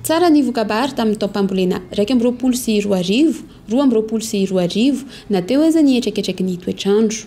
Tsara ny voka-bary tamin'ny taom-pambolena iraika amby roapolo sy roa arivo, roa amby roapolo sy roa arivo, na teo aza ny hetraketraky ny toetr'andro.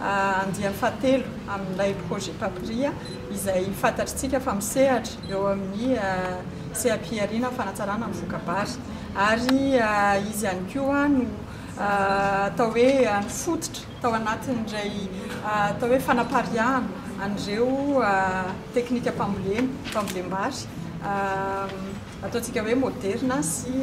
andiany fahatelo amin'ilay Projet Papria izay fantatritsika fa misehatra eo amin'ny seha-pihariana ny fanatsarana ny voka-bary ary izy ihany koa no atao hoe nifototra tao anatin'indray atao hoe fanapariahana an'ireo teknikam-pambolena, fambolem-bary. Ataontsika hoe moderina sy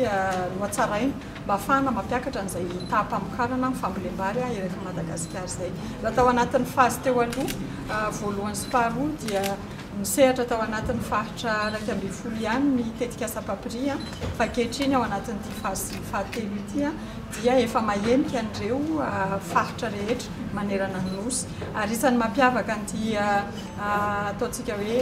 nohatsaraina mba hahafahana mampiakatra an'izay taham-pamokarana amin'ny fambolem-bary eto Madagasikara izay. Raha tao anatin'ny fazy teo aloha, voalohany sy faharoa, dia nisehatra tao anatin'ny faritra iraika ambin'ny folo ihany ny tetikasa Papri, fa ankehitriny ao anatin'ity fazy fahatelo ity dia efa mahenika an'ireo faritra rehetra manerana ny Nosy. Ary isan'ny mampiavaka an'ity ataontsika hoe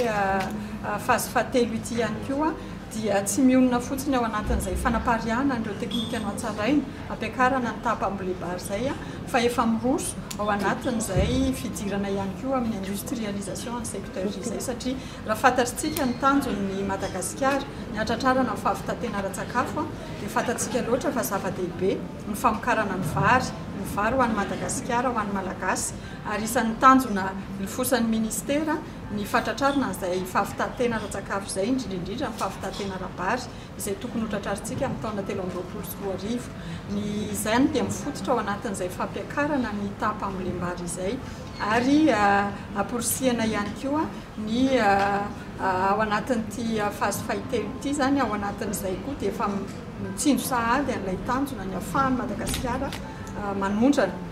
phase fahatelo ity ihany koa dia tsy mionona fotsiny ao anatin'izay fanapariahana an'ireo teknika nohatsaraina, ampiakarana ny tapa ambolebary izay fa efa miroso ao anatin'izay fidirana ihany koa amin'ny industrialisation ny secteur izay satria raha fantatrtsika ny tanjon'ny Madagasikara ny hatratrarana ny fahavitatena ara-tsakafo dia fantatsika loatra fa zava-dehibe ny famokarana ny vary, ny vary ho an'i Madagasikara, ho an'ny Malagasy. ary isan'ny tanjona nifosan'ny minisitera ny fahatratrarana an'izay fahavitan-tena ara-tsakafo izay, indrindra indrindra ny fahavitan-tena ara-bary izay tokony hotratrarintsika amin'ny taona telo amby roapolo sy roa arivo. Ny izany dia mifototra ao anatin'izay fampiakarana ny taham-pambolem-bary izay ary amporisihana ihany koa ny ao anatin'ity fazy fahitelo ity izany, ao anatin'izay koa dia efa mitsindry sahady an'ilay tanjona ny ahafahan'i Madagasikara manondrana.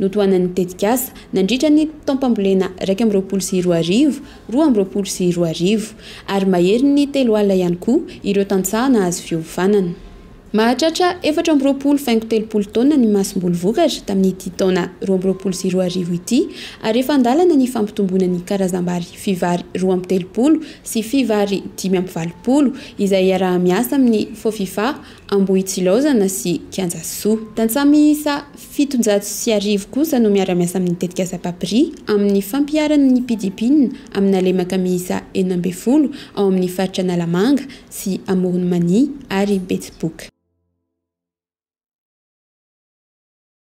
Notohanan'ny tetikasa nandritra ny taom-pambolena iraika amby roapolo sy roa arivo, roa amby roapolo sy roa arivo, ary mahery ny telo alina ihany koa ireo tantsaha nahazo fiovanana. Mahatratra efatra amby roapolo faingo telopolo taona ny masomboly vokatra tamin'ity taona roa amby roapolo sy roa arivo ity, ary efa an-dalana ny fampitomboana ny karazam-bary Fivary roa amby telopolo sy Fivary dimy amby valopolo, izay iaraha-miasa amin'ny Fofifa. Ambohitsilaozana sy Kianjasoa. Tantsaha miisa fitonjato sy arivo kosa no miara-miasa amin'ny tetikasa Papri amin'ny fampiharana ny mpidi-pinina amina lemaka miisa enina ambin'ny folo ao amin'ny faritra Analamanga sy Amoron'i Mania ary Betsiboka.